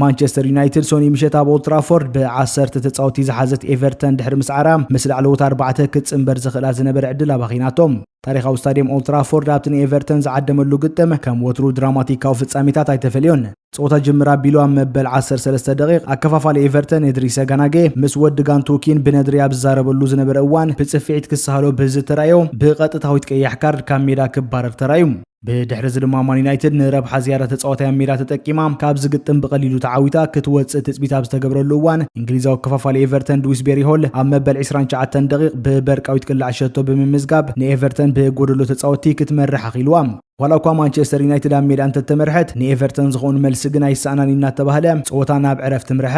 ማንቸስተር ዩናይትድ ሶኒ ምሸት ኣብ ኦልትራፎርድ ብዓሰርተ ተፃወቲ ዝሓዘት ኤቨርተን ድሕሪ ምስዓራ ምስ ላዕለዎት ኣርባዕተ ክትፅምበር ዘኽእላ ዝነበረ ዕድል ኣባኺናቶም ታሪኻዊ ስታዲየም ኦልትራፎርድ ኣብቲ ንኤቨርተን ዝዓደመሉ ግጥም ከም ወትሩ ድራማቲካዊ ፍጻሜታት ኣይተፈልዮን ፀወታ ጅምር ኣቢሉ ኣብ መበል 13 ደቂቕ ኣከፋፋሊ ኤቨርተን እድሪሰ ጋናጌ ምስ ወዲ ጋንቶኪን ብነድሪ ኣብ ዝዛረበሉ ዝነበረ እዋን ብፅፍዒት ክሰሃሎ ብዝተራእዮ ብቐጥታዊት ቀያሕ ካርድ ካብ ሜዳ ክባረር ተራእዩ ብድሕሪ እዚ ድማ ማን ዩናይትድ ንረብሓ ዝያዳ ተጻዋታይ ኣብ ሜዳ ተጠቂማ ካብዚ ግጥም ብቐሊሉ ተዓዊታ ክትወጽእ ትጽቢት ኣብ ዝተገብረሉ እዋን እንግሊዛዊ ከፋፋሊ ኤቨርተን ድዊስቤሪ ሆል ኣብ መበል 29 ደቒቕ ብበርቃዊት ቅላዕ ሸቶ ብምምዝጋብ ንኤቨርተን ብጎደሎ ተጻወትቲ ክትመርሕ ኣኽኢልዋ። ዋላ እኳ ማንቸስተር ዩናይትድ ኣብ ሜዳ እንተተመርሐት ንኤቨርተን ዝኾኑ መልሲ ግን ኣይሰኣናን እዩ እናተባህለ ጸወታ ናብ ዕረፍቲ ምርሐ።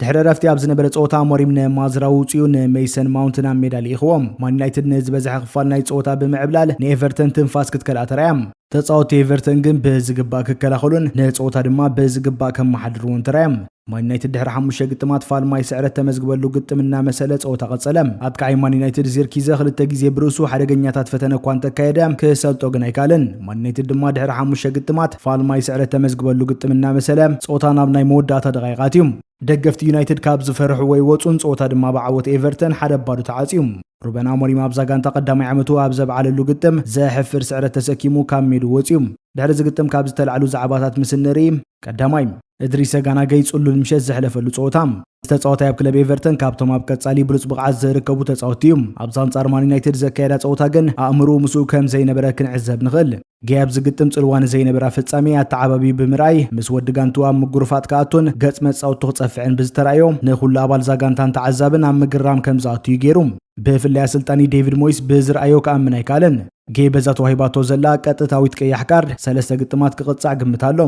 ድሕሪ እረፍቲ ኣብ ዝነበረ ጸወታ ኣሞሪም ንማዝራዊ ውጽኡ ንሜይሰን ማውንት ናብ ሜዳ ልኢኽዎ። ማን ዩናይትድ ንዝበዝሐ ክፋል ናይ ጸወታ ብምዕብላል ንኤቨርተን ትንፋስ ክትከልኣ ተራእያ። ተጻወትቲ ኤቨርተን ግን ብዝግባእ ክከላኸሉን ንጸወታ ድማ ብዝግባእ ከመሓድርዎን ተራእዮም። ማን ዩናይትድ ድሕሪ ሓሙሽተ ግጥማት ፋልማይ ስዕረት ተመዝግበሉ ግጥም እናመሰለ ጸወታ ቀጸለ። ኣጥቃዓይ ማን ዩናይትድ ዚርኪዘ ክልተ ግዜ ብርእሱ ሓደገኛታት ፈተነ እኳ እንተካየደ ክሰልጦ ግን ኣይከኣለን። ማን ዩናይትድ ድማ ድሕሪ ሓሙሽተ ግጥማት ፋልማይ ስዕረት ተመዝግበሉ ግጥም እናመሰለ ፆታ ናብ ናይ መወዳእታ ደቓይቓት እዩ። ደገፍቲ ዩናይትድ ካብ ዝፈርሕዎ ይወፁን ፀወታ ድማ ብዓወት ኤቨርተን ሓደ ባዶ ተዓፅዩ። ሩበን ኣሞሪም ኣብዛ ጋንታ ቀዳማይ ዓመቱ ኣብ ዘብዓለሉ ግጥም ዘሕፍር ስዕረት ተሰኪሙ ካብ ሜድኡ ወፂኡ። ድሕሪ እዚ ግጥም ካብ ዝተላዕሉ ዛዕባታት ምስ እንርኢ፣ ቀዳማይ፣ እድሪሰ ጋናገይ ጽሉል ምሸት ዘሕለፈሉ ጸወታ። እዚ ተጻዋታይ ኣብ ክለብ ኤቨርተን ካብቶም ኣብ ቀጻሊ ብሉጽ ብቕዓት ዝርከቡ ተጻወትቲ እዩ። ኣብዚ ኣንጻር ማን ዩናይትድ ዘካየዳ ጸወታ ግን ኣእምርኡ ምስኡ ከም ዘይነበረ ክንዕዘብ ንኽእል። ገይ ኣብ ዝግጥም ጽልዋ ንዘይነበራ ፍጻሜ ኣተዓባብዩ ብምርኣይ ምስ ወዲ ጋንትኡ ኣብ ምጉርፋጥ ክኣቱን ገጽ መጻወቱ ክጸፍዕን ብዝተራእዮ ንኹሉ ኣባል እዛ ጋንታን ተዓዛብን ኣብ ምግራም ከም ዝኣቱ እዩ ገይሩ። ብፍላይ ኣሰልጣኒ ደይቪድ ሞይስ ብዝርኣዮ ክኣምን ኣይከኣለን። ጌይ በዛ ተዋሂባቶ ዘላ ቀጥታዊት ቀያሕ ካርድ ሰለስተ ግጥማት ክቕጻዕ ግምት ኣሎ።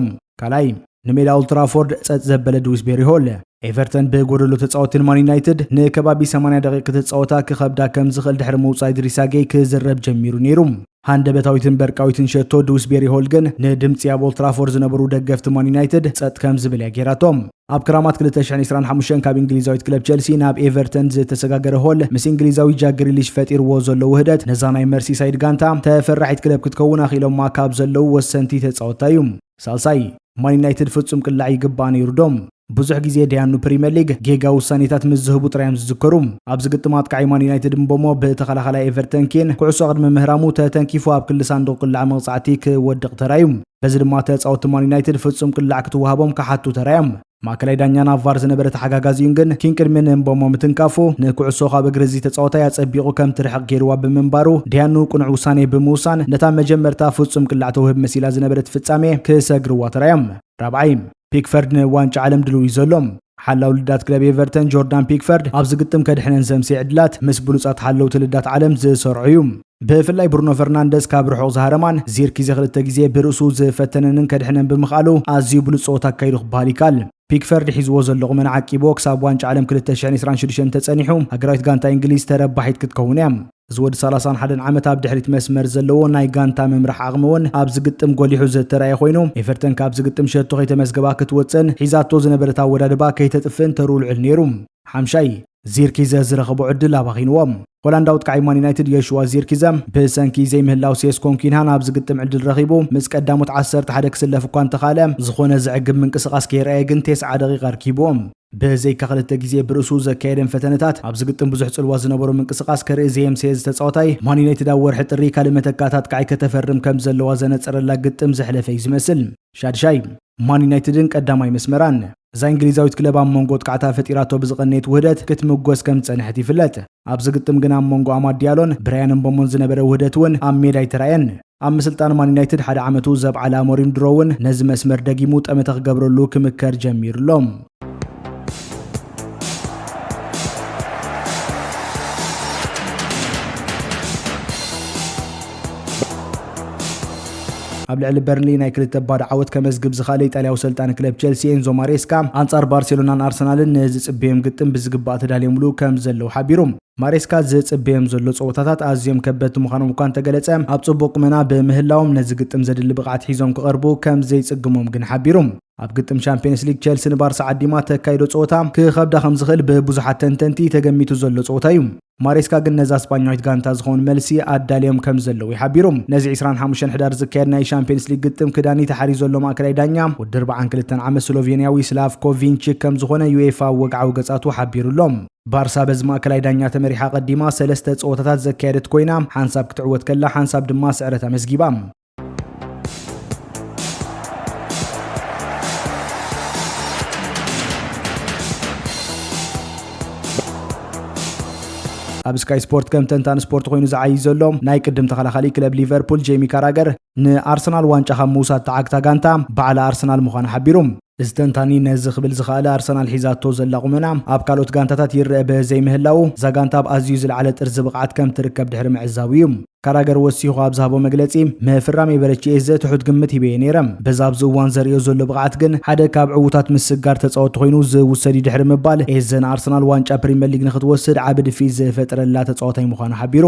ካልኣይ፣ ንሜዳ ኦልትራፎርድ ጸጥ ዘበለ ድዊስቤሪ ሆል፣ ኤቨርተን ብጎደሎ ተጻወቲ ንማን ዩናይትድ ንከባቢ ሰማንያ ደቒቕ ክትጻወታ ክኸብዳ ከም ዝኽእል ድሕሪ ምውጻእ ኢድሪሳ ጌይ ክዝረብ ጀሚሩ ነይሩ። ሃንደበታዊትን በርቃዊትን ሸቶ ድዊስቤሪ ሆል ግን ንድምጺ ኣብ ኦልትራፎርድ ዝነበሩ ደገፍቲ ማን ዩናይትድ ጸጥ ከም ዝብል እያ ገይራቶም። ኣብ ክራማት ክልተ ሽሕን ዒስራን ሓሙሽተን ካብ እንግሊዛዊት ክለብ ቸልሲ ናብ ኤቨርተን ዝተሰጋገረ ሆል ምስ እንግሊዛዊ ጃክ ግሪሊሽ ፈጢርዎ ዘሎ ውህደት ነዛ ናይ መርሲሳይድ ጋንታ ተፈራሒት ክለብ ክትከውን ኣኽኢሎማ ካብ ዘለዉ ወሰንቲ ተጻወትታ እዩ። ሳልሳይ፣ ማን ዩናይትድ ፍጹም ቅላዕ ይግብኣ ነይሩ ዶ? ብዙሕ ግዜ ደያኑ ፕሪምየር ሊግ ጌጋ ውሳኔታት ምስ ዝህቡ ጥራይ እዮም ዝዝከሩ። ኣብዚ ግጥም ኣጥቃዓይ ማን ዩናይትድ ምቦሞ ብተኸላኻላይ ኤቨርተን ኬን ኩዕሶ ቅድሚ ምህራሙ ተተንኪፉ ኣብ ክሊ ሳንዱቕ ቅላዕ መቕጻዕቲ ክወድቕ ተራእዩ። በዚ ድማ ተፃወቲ ማን ዩናይትድ ፍፁም ቅላዕ ክትወሃቦም ክሓቱ ተራዮም። ማእከላይ ዳኛ ናብ ቫር ዝነበረ ተሓጋጋዚኡን ግን ኪን ቅድሚ ንእምቦሞ ምትንካፉ ንኩዕሶ ካብ እግሪ እዚ ተፃወታይ ኣፀቢቑ ከም ትርሕቕ ገይሩዋ ብምንባሩ ዲያኑ ቅኑዕ ውሳኔ ብምውሳን ነታ መጀመርታ ፍፁም ቅላዕ ተውህብ መሲላ ዝነበረት ፍፃሜ ክሰግርዋ ተራዮም። ራብዓይ ፒክፈርድ ንዋንጫ ዓለም ድልው እዩ ዘሎ። ሓላው ልዳት ክለብ ኤቨርተን ጆርዳን ፒክፈርድ ኣብዚ ግጥም ከድሕነን ዘምሰየ ዕድላት ምስ ብሉፃት ሓለውቲ ልዳት ዓለም ዝሰርዖ እዩ። ብፍላይ ብሩኖ ፈርናንደዝ ካብ ርሑቕ ዝሃረማን ዚርኪዜ ክልተ ግዜ ብርእሱ ዝፈተነንን ከድሕነን ብምኽኣሉ ኣዝዩ ብሉጽ ጸወታ ኣካይዱ ክበሃል ይከኣል። ፒክፈርድ ሒዝዎ ዘሎ ቁመና ዓቂብዎ ክሳብ ዋንጫ ዓለም ክልተ ሽሕን ዕስራን ሽዱሽተን እንተጸኒሑ ሃገራዊት ጋንታ ኢንግሊዝ ተረባሒት ክትከውን እያ። እዚ ወዲ ሰላሳን ሓደን ዓመት ኣብ ድሕሪት መስመር ዘለዎ ናይ ጋንታ ምምራሕ ዓቕሚ እውን ኣብዚ ግጥም ጎሊሑ ዝተራእየ ኮይኑ ኤቨርተን ካብዚ ግጥም ሸቶ ከይተመዝገባ ክትወጽእን ሒዛቶ ዝነበረት ኣወዳድባ ከይተጥፍእን ተርኡ ልዑል ነይሩ። ሓምሻይ ዚርኪዘ ዝረኸቦ ዕድል ኣባኺንዎ። ሆላንዳዊ ኣጥቃዒ ማን ዩናይትድ ዮሽዋ ዚርኪዘ ብሰንኪ ዘይምህላው ሴስኮን ኲንሃን ኣብዚ ግጥም ዕድል ረኺቡ ምስ ቀዳሞት ዓሰርተ ሓደ ክስለፍ እኳ እንተኽኣለ፣ ዝኾነ ዘዕግብ ምንቅስቓስ ከየርኣየ ግን ቴስዓ ደቒቓ ኣርኪቡ። ብዘይካ ክልተ ግዜ ብርእሱ ዘካየደን ፈተነታት፣ ኣብዚ ግጥም ብዙሕ ጽልዋ ዝነበሮ ምንቅስቓስ ከርኢ ዘየምሰየ እዚ ተጻዋታይ፣ ማን ዩናይትድ ኣብ ወርሒ ጥሪ ካልእ መተካእታ ኣጥቃዒ ከተፈርም ከምዘለዋ ዘነጸረላ ግጥም ዘሕለፈ'ዩ ዝመስል። ሻድሻይ፣ ማን ዩናይትድን ቀዳማይ መስመራን እዛ ኢንግሊዛዊት ክለብ ኣብ መንጎ ወጥቃዕታ ፈጢራቶ ብዝቐነየት ውህደት ክትምጎስ ከም ዝጸንሐት ይፍለጥ። ኣብዚ ግጥም ግና ኣብ መንጎ ኣማድ ዲያሎን ብራያን እምቦሞን ዝነበረ ውህደት እውን ኣብ ሜዳ ኣይተራእየን። ኣብ ምስልጣን ማን ዩናይትድ ሓደ ዓመቱ ዘብዓለ ኣሞሪም ድሮ እውን ነዚ መስመር ደጊሙ ጠመተ ክገብረሉ ክምከር ጀሚሩ ኣሎ። ኣብ ልዕሊ በርንሊ ናይ ክልተ ባዶ ዓወት ከመዝግብ ዝኸኣለ ኢጣልያዊ ሰልጣኒ ክለብ ቸልሲ ኤንዞ ማሬስካ ኣንጻር ባርሴሎናን ኣርሰናልን ንዝጽበዮም ግጥም ብዝግባእ ተዳልዮምሉ ከም ዘለዉ ሓቢሩ ማሬስካ ዝጽበዮም ዘሎ ጸወታታት ኣዝዮም ከበድቲ ምዃኖም እኳ እንተገለጸ ኣብ ጽቡቕ ቁመና ብምህላዎም ነዚ ግጥም ዘድሊ ብቕዓት ሒዞም ክቐርቡ ከም ዘይጽግሞም ግን ሓቢሩ ኣብ ግጥም ሻምፒየንስ ሊግ ቸልሲ ንባርሳ ዓዲማ ተካይዶ ጸወታ ክኸብዳ ከም ዝኽእል ብብዙሓት ተንተንቲ ተገሚቱ ዘሎ ጸወታ እዩ። ማሬስካ ግን ነዛ ስጳኛዊት ጋንታ ዝኸውን መልሲ ኣዳልዮም ከም ዘለዉ ይሓቢሩ። ነዚ 25 ሕዳር ዝካየድ ናይ ሻምፒየንስ ሊግ ግጥም ክዳኒ ተሓሪዩ ዘሎ ማእከላይ ዳኛ ወዲ 42 ዓመት ስሎቬንያዊ ስላቭኮ ቪንቺክ ከም ዝኾነ ዩኤፋ ኣብ ወግዓዊ ገጻቱ ሓቢሩ ኣሎ። ባርሳ በዚ ማእከላይ ዳኛ ተመሪሓ ቀዲማ ሰለስተ ጸወታታት ዘካየደት ኮይና ሓንሳብ ክትዕወት ከላ ሓንሳብ ድማ ስዕረት ኣመዝጊባ። ኣብ ስካይ ስፖርት ከም ተንታን ስፖርት ኮይኑ ዝዓይ ዘሎ ናይ ቅድም ተኸላኻሊ ክለብ ሊቨርፑል ጄሚ ካራገር ንኣርሰናል ዋንጫ ካብ ምውሳድ ተዓግታ ጋንታ ባዕላ ኣርሰናል ምዃኑ ሓቢሩ እዚ ተንታኒ ነዚ ክብል ዝኸኣለ ኣርሰናል ሒዛቶ ዘላ ቁመና ኣብ ካልኦት ጋንታታት ይረኣ በዘይምህላዉ እዛ ጋንታ ኣብ ኣዝዩ ዝለዓለ ጥርዚ ብቕዓት ከም ትርከብ ድሕሪ ምዕዛቡ እዩ። ካራገር ወሲኹ ኣብ ዝሃቦ መግለጺ፣ ምፍራም ኤበረቺኤዘ ትሑት ግምት ሂበዮ ነይረ፣ በዚ ኣብዚ እዋን ዘርእዮ ዘሎ ብቕዓት ግን ሓደ ካብ ዕዉታት ምስግጋር ተጻወትቲ ኮይኑ ዝውሰድ እዩ ድሕሪ ምባል ኤዘ ንኣርሰናል ዋንጫ ፕሪመር ሊግ ንኽትወስድ ዓቢ ድፍኢት ዝፈጠረላ ተጻዋታይ ምዃኑ ሓቢሩ።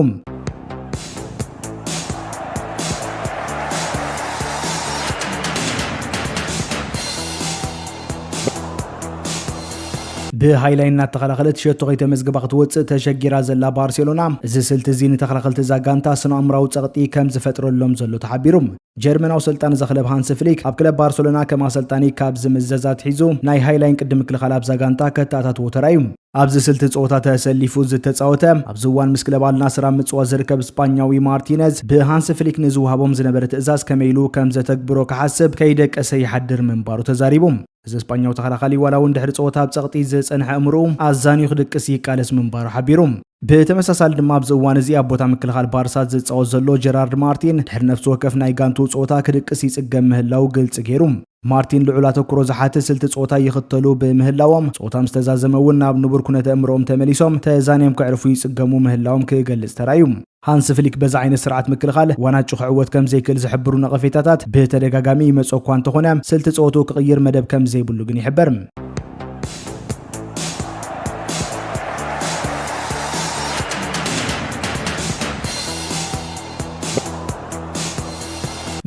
ብሃይላይ እናተኸላኸለት ሸቶ ከይተመዝገባ ክትወፅእ ተሸጊራ ዘላ ባርሴሎና እዚ ስልቲ እዚ ንተኸላኸልቲ እዛ ጋንታ ስነ ኣእምራዊ ፀቕጢ ከም ዝፈጥረሎም ዘሎ ተሓቢሩ ጀርመናዊ ኣሰልጣኒ እዛ ክለብ ሃንሲ ፍሊክ ኣብ ክለብ ባርሰሎና ከም ኣሰልጣኒ ካብ ዝምዘዝ ኣትሒዙ ናይ ሃይላይን ቅዲ ምክልኻል ኣብዛ ጋንታ ከተኣታትዎ ተራእዩ። ኣብዚ ስልቲ ጸወታ ተሰሊፉ ዝተጻወተ ኣብዚ እዋን ምስ ክለብ ኣልናስር ኣብ ምጽዋት ዝርከብ ስጳኛዊ ማርቲነዝ ብሃንሲ ፍሊክ ንዝወሃቦም ዝነበረ ትእዛዝ ከመይ ኢሉ ከም ዘተግብሮ ክሓስብ ከይደቀሰ ይሓድር ምንባሩ ተዛሪቡ። እዚ ስጳኛዊ ተኸላኻሊ ዋላ'ውን ድሕሪ ጸወታ ኣብ ጸቕጢ ዝጸንሐ ኣእምሮኡ ኣዛንዩ ክድቅስ ይቃለስ ምንባሩ ሓቢሩ። ብተመሳሳሊ ድማ ኣብዚ እዋን እዚ ኣብ ቦታ ምክልኻል ባርሳ ዝጻወት ዘሎ ጀራርድ ማርቲን ድሕሪ ነፍሲ ወከፍ ናይ ጋንትኡ ጸወታ ክድቅስ ይጽገም ምህላዉ ግልጺ ገይሩ። ማርቲን ልዑል ኣተኩሮ ዝሓትት ስልቲ ጸወታ ይኽተሉ ብምህላዎም፣ ጸወታ ምስ ተዛዘመ'ውን ናብ ንቡር ኩነተ-ኣእምሮኦም ተመሊሶም ተዛንዮም ከዕርፉ ይጽገሙ ምህላዎም ክገልጽ ተራእዩ። ሃንስ ፍሊክ በዚ ዓይነት ስርዓት ምክልኻል ዋናጩ ክዕወት ከምዘይክእል ዝሕብሩ ነቐፌታታት ብተደጋጋሚ ይመጽኦ እኳ እንተኾነ፣ ስልቲ ጸወትኡ ክቕይር መደብ ከምዘይብሉ ግን ይሕበር።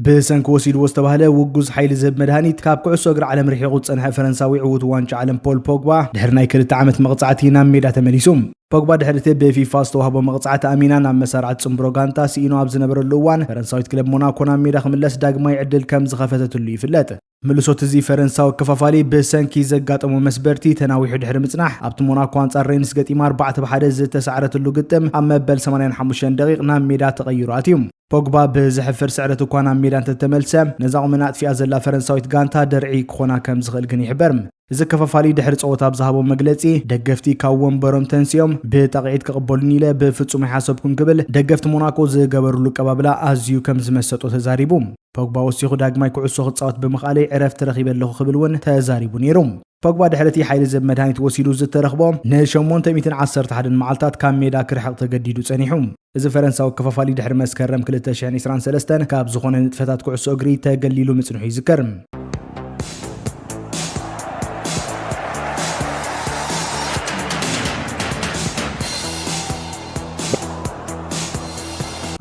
ብሰንኪ ወሲድዎ ዝተባህለ ውጉዝ ሓይሊ ዝህብ መድሃኒት ካብ ኩዕሶ እግሪ ዓለም ርሒቑ ዝጸንሐ ፈረንሳዊ ዕውት ዋንጫ ዓለም ፖል ፖግባ ድሕሪ ናይ ክልተ ዓመት መቕጻዕቲ ናብ ሜዳ ተመሊሱ። ፖግባ ድሕሪ እቲ ብፊፋ ዝተዋህቦ መቕጻዕቲ ኣሚና ናብ መሳርዕት ጽምብሮ ጋንታ ስኢኑ ኣብ ዝነበረሉ እዋን ፈረንሳዊት ክለብ ሞናኮ ናብ ሜዳ ክምለስ ዳግማይ ዕድል ከም ዝኸፈተትሉ ይፍለጥ። ምልሶት እዚ ፈረንሳዊ ከፋፋሊ ብሰንኪ ዘጋጠሞ መስበርቲ ተናዊሑ ድሕሪ ምጽናሕ ኣብቲ ሞናኮ ኣንጻር ሬንስ ገጢማ ኣርባዕተ ብ ሓደ ዝተሳዕረትሉ ግጥም ኣብ መበል ሰማንያን ሓሙሽተን ደቒቕ ናብ ሜዳ ተቐይሩ ኣትዩ። ፖግባ ብዘሕፍር ስዕረት እኳ ናብ ሜዳ እንተተመልሰ ነዛ ቁመና ኣጥፊኣ ዘላ ፈረንሳዊት ጋንታ ደርዒ ክኾና ከም ዝኽእል ግን ይሕበር። እዚ ከፋፋሊ ድሕሪ ጸወታ ኣብ ዝሃቦ መግለጺ፣ ደገፍቲ ካብ ወንበሮም ተንሲኦም ብጣቕዒት ክቕበሉኒ ኢለ ብፍጹም ኣይሓሰብኩን ክብል ደገፍቲ ሞናኮ ዝገበርሉ ኣቀባብላ ኣዝዩ ከም ዝመሰጦ ተዛሪቡ። ፖግባ ወሲኹ ዳግማይ ኩዕሶ ክጻወት ብምኽኣለይ ዕረፍቲ ረኺበ ኣለኹ ክብል እውን ተዛሪቡ ነይሩ። ፖግባ ድሕሪ እቲ ሓይሊ ዝህብ መድሃኒት ወሲዱ ዝተረኽቦ ንሸሞንተ ሚእትን ዓሰርተ ሓደን መዓልታት ካብ ሜዳ ክርሕቕ ተገዲዱ ጸኒሑ። እዚ ፈረንሳዊ ከፋፋሊ ድሕሪ መስከረም ክልተ ሽሕን ዒስራን ሰለስተን ካብ ዝኾነ ንጥፈታት ኩዕሶ እግሪ ተገሊሉ ምጽንሑ ይዝከር።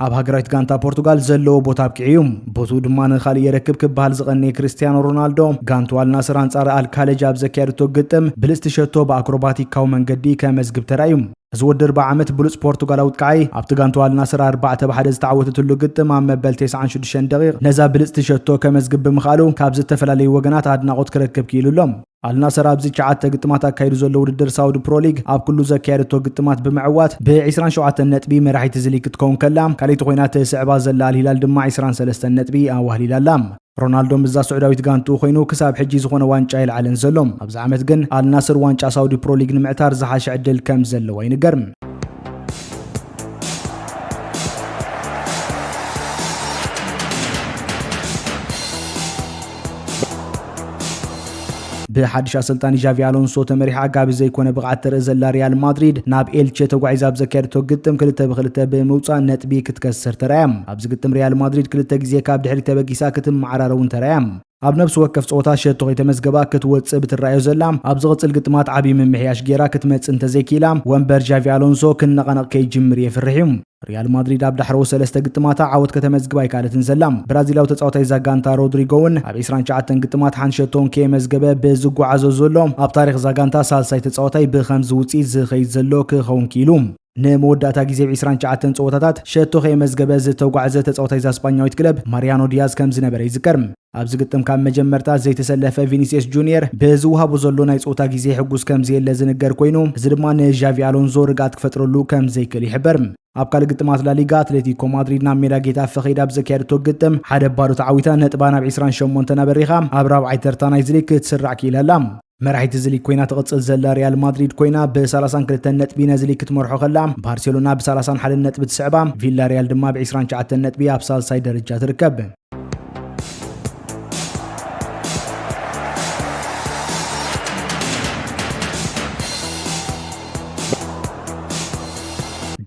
ኣብ ሃገራዊት ጋንታ ፖርቱጋል ዘለዎ ቦታ ኣብቂዑ እዩ ቦትኡ ድማ ንኻልእ የረክብ ክበሃል ዝቐነየ ክርስትያኖ ሮናልዶ ጋንቱ ኣልናስር ኣንጻር ኣልካለጅ ኣብ ዘካየደቶ ግጥም ብልጽቲ ሸቶ ብኣክሮባቲካዊ መንገዲ ከመዝግብ ተራእዩ እዚ ወዲ ርብዒ ዓመት ብሉጽ ፖርቱጋላዊት ከኣ'ዩ። ኣብቲ ጋንታኡ ኣል ናስር ኣርባዕተ ብ ሓደ ዝተዓወተትሉ ግጥም ኣብ መበል ቴስዓን ሽዱሽተን ደቒቕ ነዛ ብልጽቲ ሸቶ ከመዝግብ ብምኽኣሉ ካብ ዝተፈላለዩ ወገናት ኣድናቖት ክረክብ ክኢሉ ኣሎ። ኣል ናስር ኣብዚ ትሽዓተ ግጥማት ኣካይዱ ዘሎ ውድድር ሳውዲ ፕሮ ሊግ ኣብ ኩሉ ዘካየደቶ ግጥማት ብምዕዋት ብ ዕስራን ሸውዓተን ነጥቢ መራሒት እዚ ሊግ ክትከውን ከላ ካልኣይቲ ኮይና ትስዕባ ዘላ ኣል ሂላል ድማ ዕስራን ሰለስተን ነጥቢ ኣዋህሊላ ኣላ። ሮናልዶ ምስዛ ስዑዳዊት ጋንትኡ ኮይኑ ክሳብ ሕጂ ዝኾነ ዋንጫ ኣይልዓለን ዘሎ። ኣብዚ ዓመት ግን ኣልናስር ዋንጫ ሳውዲ ፕሮ ሊግ ንምዕታር ዝሓሸ ዕድል ከም ዘለዎ ይንገር። ብሓድሽ ኣሰልጣኒ ዣቪ ኣሎንሶ ተመሪሓ ጋቢ ዘይኮነ ብቕዓት ተርኢ ዘላ ሪያል ማድሪድ ናብ ኤልቼ ተጓዒዛ ኣብ ዘካየደቶ ግጥም ክልተ ብክልተ ብምውፃእ ነጥቢ ክትከስር ተራእያ። ኣብዚ ግጥም ሪያል ማድሪድ ክልተ ግዜ ካብ ድሕሪት ተበጊሳ ክትመዓራረ እውን ተራእያ። ኣብ ነብሲ ወከፍ ፀወታ ሸቶ ከይተመዝገባ ክትወፅእ ብትረኣዮ ዘላ፣ ኣብ ዝቕፅል ግጥማት ዓብዪ ምምሕያሽ ገይራ ክትመፅእ እንተዘይክኢላ ወንበር ዣቪ ኣሎንሶ ክነቓነቕ ከይጅምር የፍርሕ እዩ። ሪያል ማድሪድ ኣብ ዳሕረዎት ሰለስተ ግጥማታ ዓወት ከተመዝግብ ኣይከኣለትን ዘላ። ብራዚላዊ ተጻዋታይ እዛ ጋንታ ሮድሪጎ እውን ኣብ ዕስራን ትሽዓተን ግጥማት ሓንቲ ሸቶ እንከየመዝገበ ብዝጓዓዞ ዘሎ፣ ኣብ ታሪኽ እዛ ጋንታ ሳልሳይ ተጻዋታይ ብኸምዚ ውጽኢት ዝኸይድ ዘሎ ክኸውን ክኢሉ። ንመወዳእታ ግዜ ኣብ ዕስራን ትሽዓተን ጸወታታት ሸቶ ከየመዝገበ ዝተጓዕዘ ተጻዋታይ እዛ ስጳኛዊት ክለብ ማርያኖ ዲያዝ ከምዝነበረ ይዝከር። ኣብዚ ግጥም ካብ መጀመርታ ዘይተሰለፈ ቪኒስየስ ጁንየር ብዝወሃቦ ዘሎ ናይ ጸወታ ግዜ ሕጉስ ከምዘየለ ዝንገር ኮይኑ እዚ ድማ ንዣቪ ኣሎንዞ ርግኣት ክፈጥረሉ ከምዘይክእል ይሕበር። ኣብ ካልእ ግጥማት ላሊጋ ኣትሌቲኮ ማድሪድ ናብ ሜዳ ጌታፈ ከይዳ ኣብ ዘካየደቶ ግጥም ሓደ ባዶ ተዓዊታ ነጥባ ናብ ዒስራን ሸሞንተን ኣበሪኻ ኣብ ራብዓይ ተርታ ናይዚ ሊግ ክትስራዕ ክኢላ ኣላ። መራሒት እዚ ሊግ ኮይና ትቕጽል ዘላ ሪያል ማድሪድ ኮይና ብ32 ነጥቢ ነዚ ሊግ ክትመርሖ ከላ ባርሴሎና ብ31 ነጥቢ ትስዕባ፣ ቪላ ሪያል ድማ ብ20 ሸዓተን ነጥቢ ኣብ ሳልሳይ ደረጃ ትርከብ።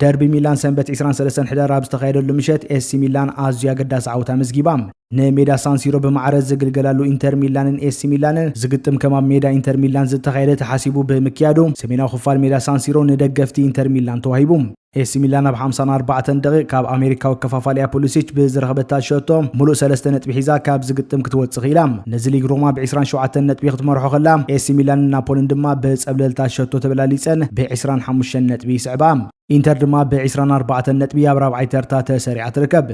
ደርቢ ሚላን ሰንበት 23 ሕዳር ኣብ ዝተኻየደሉ ምሸት ኤሲ ሚላን ኣዝዩ ኣገዳሲ ዓወት ኣመዝጊባ። ንሜዳ ሳንሲሮ ብማዕረ ዝግልገላሉ ኢንተር ሚላንን ኤሲ ሚላንን ዝግጥም ከም ኣብ ሜዳ ኢንተር ሚላን ዝተኻየደ ተሓሲቡ ብምክያዱ ሰሜናዊ ክፋል ሜዳ ሳንሲሮ ንደገፍቲ ኢንተር ሚላን ተዋሂቡ። ኤሲ ሚላን ኣብ ሓምሳን ኣርባዕተን ደቒቕ ካብ ኣሜሪካዊ ኣከፋፋሊኣ ፑሊሲች ብዝረኸበታ ሸቶ ምሉእ ሰለስተ ነጥቢ ሒዛ ካብዚ ግጥም ክትወጽእ ክኢላ። ነዚ ሊግ ሮማ ብ ዕስራን ሸውዓተን ነጥቢ ክትመርሖ ከላ ኤሲ ሚላንን ናፖልን ድማ ብጸብለልታ ሸቶ ተበላሊጸን ብ ዕስራን ሓሙሽተን ነጥቢ ይስዕባ። ኢንተር ድማ ብዒስራን ኣርባዕተን ነጥቢ ኣብ ራብዓይ ተርታ ተሰሪዓ ትርከብ።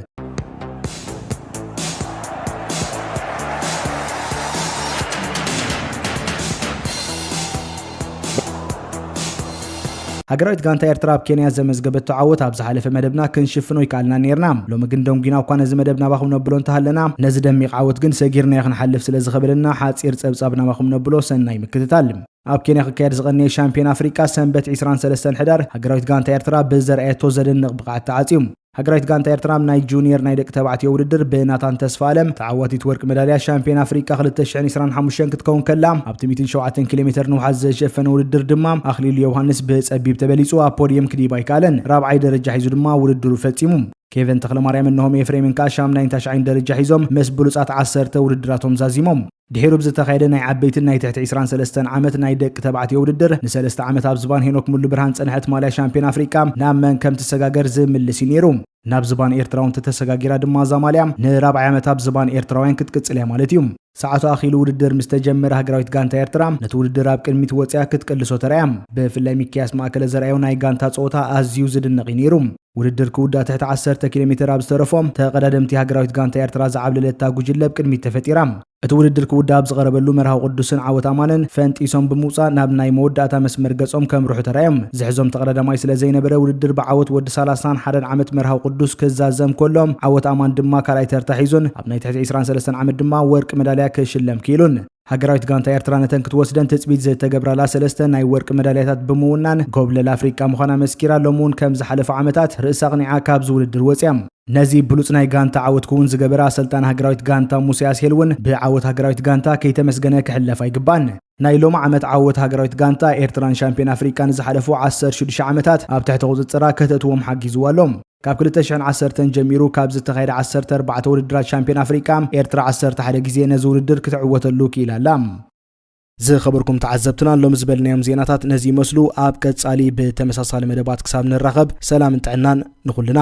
ሃገራዊት ጋንታ ኤርትራ ኣብ ኬንያ ዘመዝገበቶ ዓወት ኣብ ዝሓለፈ መደብና ክንሽፍኖ ይከኣልና ኔርና ሎሚ ግን ደንጒና እኳ ነዚ መደብ ናባኹም ነብሎ እንተሃለና ነዚ ደሚቕ ዓወት ግን ሰጊርናዮ ክንሓልፍ ስለ ዝኸበደና ሓጺር ጸብጻብ ናባኹም ነብሎ ሰናይ ምክትታል ኣብ ኬንያ ክካየድ ዝቐነየ ሻምፒዮን ኣፍሪቃ ሰንበት 23 ሕዳር ሃገራዊት ጋንታ ኤርትራ ብዘርኣየቶ ዘደንቕ ብቕዓት ተዓጽዩ። ሃገራዊት ጋንታ ኤርትራ ኣብ ናይ ጁኒየር ናይ ደቂ ተባዕትዮ ውድድር ብናታን ተስፋኣለም ተዓዋቲት ወርቂ መዳልያ ሻምፒዮን ኣፍሪቃ 2025 ክትከውን ከላ ኣብቲ 107 ኪሎ ሜተር ንውሓት ዘሸፈነ ውድድር ድማ ኣኽሊሉ ዮውሃንስ ብጸቢብ ተበሊጹ ኣብ ፖድየም ክድይብ ኣይከኣለን። ራብዓይ ደረጃ ሒዙ ድማ ውድድሩ ፈጺሙ። ኬቨን ተኽለማርያም እነሆም ኤፍሬምን ከኣ ሻምናይን ታሽዓይን ደረጃ ሒዞም ምስ ብሉጻት ዓሰርተ ውድድራቶም ዛዚሞም። ድሒሩ ብዝተኻየደ ናይ ዓበይትን ናይ ትሕቲ ዕስራን ሰለስተን ዓመት ናይ ደቂ ተባዕትዮ ውድድር፣ ንሰለስተ ዓመት ኣብ ዝባን ሄኖክ ሙሉብርሃን ዝጸንሐት ማልያ ሻምፕዮን ኣፍሪቃ ናብ መን ከም ትሰጋገር ዝምልስ እዩ ነይሩ። ናብ ዝባን ኤርትራዊ እንተተሰጋጊራ ድማ እዛ ማልያ ንራብዓይ ዓመት ኣብ ዝባን ኤርትራውያን ክትቅጽል እያ ማለት እዩ። ሰዓቱ ኣኺሉ ውድድር ምስ ተጀመረ ሃገራዊት ጋንታ ኤርትራ ነቲ ውድድር ኣብ ቅድሚት ወጺኣ ክትቅልሶ ተራእያ። ብፍላይ ሚኪያስ ማእከለ ዘርኣዮ ናይ ጋንታ ጸወታ ኣዝዩ ዝድነቕ እዩ ነይሩ። ውድድር ክውዳእ ትሕቲ ዓሰርተ ኪሎ ሜተር ኣብ ዝተረፎ፣ ተቐዳደምቲ ሃገራዊት ጋንታ ኤርትራ ዝዓብለለታ ጉጅለ ኣብ ቅድሚት ተፈጢራ። እቲ ውድድር ክውዳእ ኣብ ዝቐረበሉ፣ መርሃዊ ቅዱስን ዓወት ኣማነን ፈንጢሶም ብምውጻእ ናብ ናይ መወዳእታ መስመር ገጾም ከምርሑ ተራእዮም። ዝሕዞም ተቐዳዳማይ ስለ ዘይነበረ፣ ውድድር ብዓወት ወዲ ሳላሳን ሓደን ዓመት መርሃዊ ቅዱስ ክዛዘም ከሎ፣ ዓወት ኣማን ድማ ካልኣይ ተርታ ሒዙን ኣብ ናይ ትሕቲ ዕስራን ሰለስተን ዓመት ድማ ወርቂ መዳልያ ክሽለም ክኢሉን። ሃገራዊት ጋንታ ኤርትራ ነተን ክትወስደን ትጽቢት ዝተገብራላ ሰለስተ ናይ ወርቂ መዳልያታት ብምውናን ጎብለል ኣፍሪቃ ምዃና መስኪራ ሎሚ እውን ከም ዝሓለፉ ዓመታት ርእሳ ኣቕኒዓ ካብዚ ውድድር ወጺኣ። ነዚ ብሉጽ ናይ ጋንታ ዓወት ክውን ዝገበረ ኣሰልጣኒ ሃገራዊት ጋንታ ሙሴ ኣስሄል እውን ብዓወት ሃገራዊት ጋንታ ከይተመስገነ ክሕለፍ ኣይግባእን። ናይ ሎሚ ዓመት ዓወት ሃገራዊት ጋንታ ኤርትራን ሻምፒዮን ኣፍሪቃ ንዝሓለፉ ዓሰርተ ሽዱሽተ ዓመታት ኣብ ትሕቲ ቁጽጽራ ከተእትዎም ሓጊዝዋ ኣሎ። ካብ ክልተ ሽሕን ዓሰርተን ጀሚሩ ካብ ዝተኻየደ ዓሰርተ ኣርባዕተ ውድድራት ሻምፒዮን ኣፍሪቃ፣ ኤርትራ ዓሰርተ ሓደ ግዜ ነዚ ውድድር ክትዕወተሉ ክኢላ ኣላ። ዝኸበርኩም ተዓዘብትና ሎሚ ዝበልናዮም ዜናታት ነዚ ይመስሉ። ኣብ ቀጻሊ ብተመሳሳሊ መደባት ክሳብ ንራኸብ ሰላምን ጥዕናን ንኹልና።